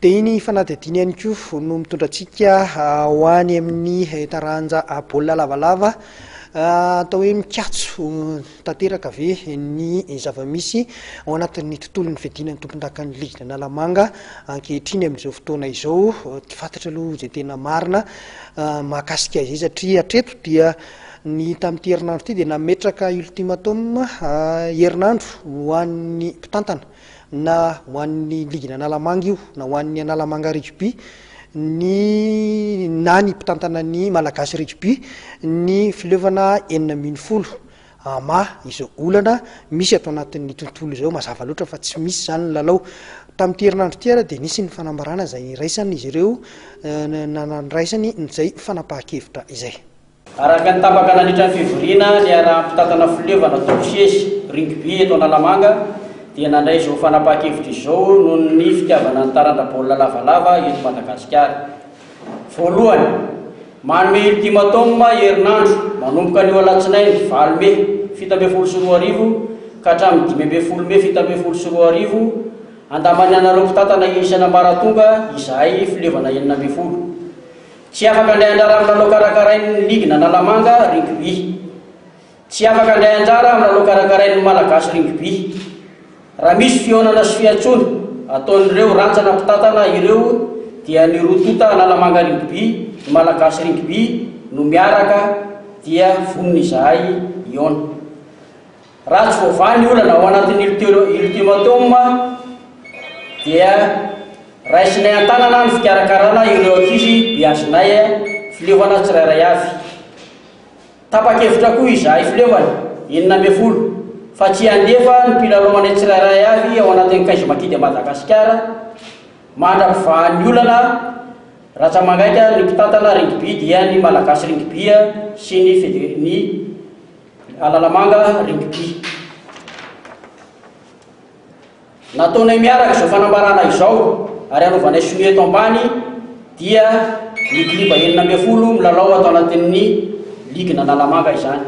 Dia iny fanadihadiana ihany koa no mitondra antsika ho any amin'ny taranja baolina lavalava atao hoe mikatso tanteraka ve ny zava-misy ao anatin'ny tontolon'ny fiadiana ny tompondakan'ny ligina Analamanga ankehitriny amin'izao fotoana izao tsy fantatra aloha izay tena marina mahakasika izay satria hatreto dia ny tamin'ity herinandro ity dia nametraka ultimatum herinandro ho an'ny mpitantana na ho an'ny ligin'Analamanga io na ho an'ny Analamanga Rugby, ny na ny mpitantana ny Malagasy Rugby, ny fileovana enina ambin'ny folo ama izao olana misy ato anatin'ny tontolo izao mazava loatra fa tsy misy izany ny lalao. Tamin'ity herinandro ity ary dia nisy ny fanambarana izay niraisan' izy ireo na nandraisany izay fanapahan-kevitra izay. Araka ny tapaka nandritra ny fivoriana niaraha-mpitantana fileova natao sesy rugby eto Analamanga dia nandray izao fanapahan-kevitra izao noho ny fitiavana ny taranja baolina lavalava eto Madagasikara. Voalohany, manome ultimatum herinandro manomboka anio alatsinainy valo mey fito ambin'ny folo sy roa arivo ka hatramin'ny dimy ambin'ny folo mey fito ambin'ny folo sy roa arivo andaman'ny anareo mpitantana isany ambaratonga izahay fileovana enina ambin'ny folo Tsy afaka handray anjara amin'ny lalao karakarain'ny ligy an'Analamanga Rugby. Tsy afaka handray anjara amin'ny lalao karakarain'ny Malagasy Rugby. Raha misy fihaonana sy fiantsoana ataon'ireo rantsana mpitantana ireo dia ny roa tonta Analamanga Rugby, ny Malagasy Rugby no miaraka dia vonona izahay hihaona. Raha tsy voavaha ny olana ao anatin'ny Ultimatum dia raisinay an-tanana ny fikarakarana ireo ankizy beazinay filevana tsirairay avy. Tapa-kevitra koa izahay filevana enina ambin'ny folo fa tsy handefa ny mpilalao-manay tsirairay avy ao anatin'ny Cage Makita Madagasikara mandra-pivahan'ny olana ratsa-mangaika ny mpitantana Rugby dia ny Malagasy Rugby sy ny ny Alalamanga Rugby. Nataonay miaraka izao fanambarana izao ary hanaovanay sonia eto ambany dia ny kluba enina ambin'ny folo milalao ato anatin'ny ligin'Analamanga izany.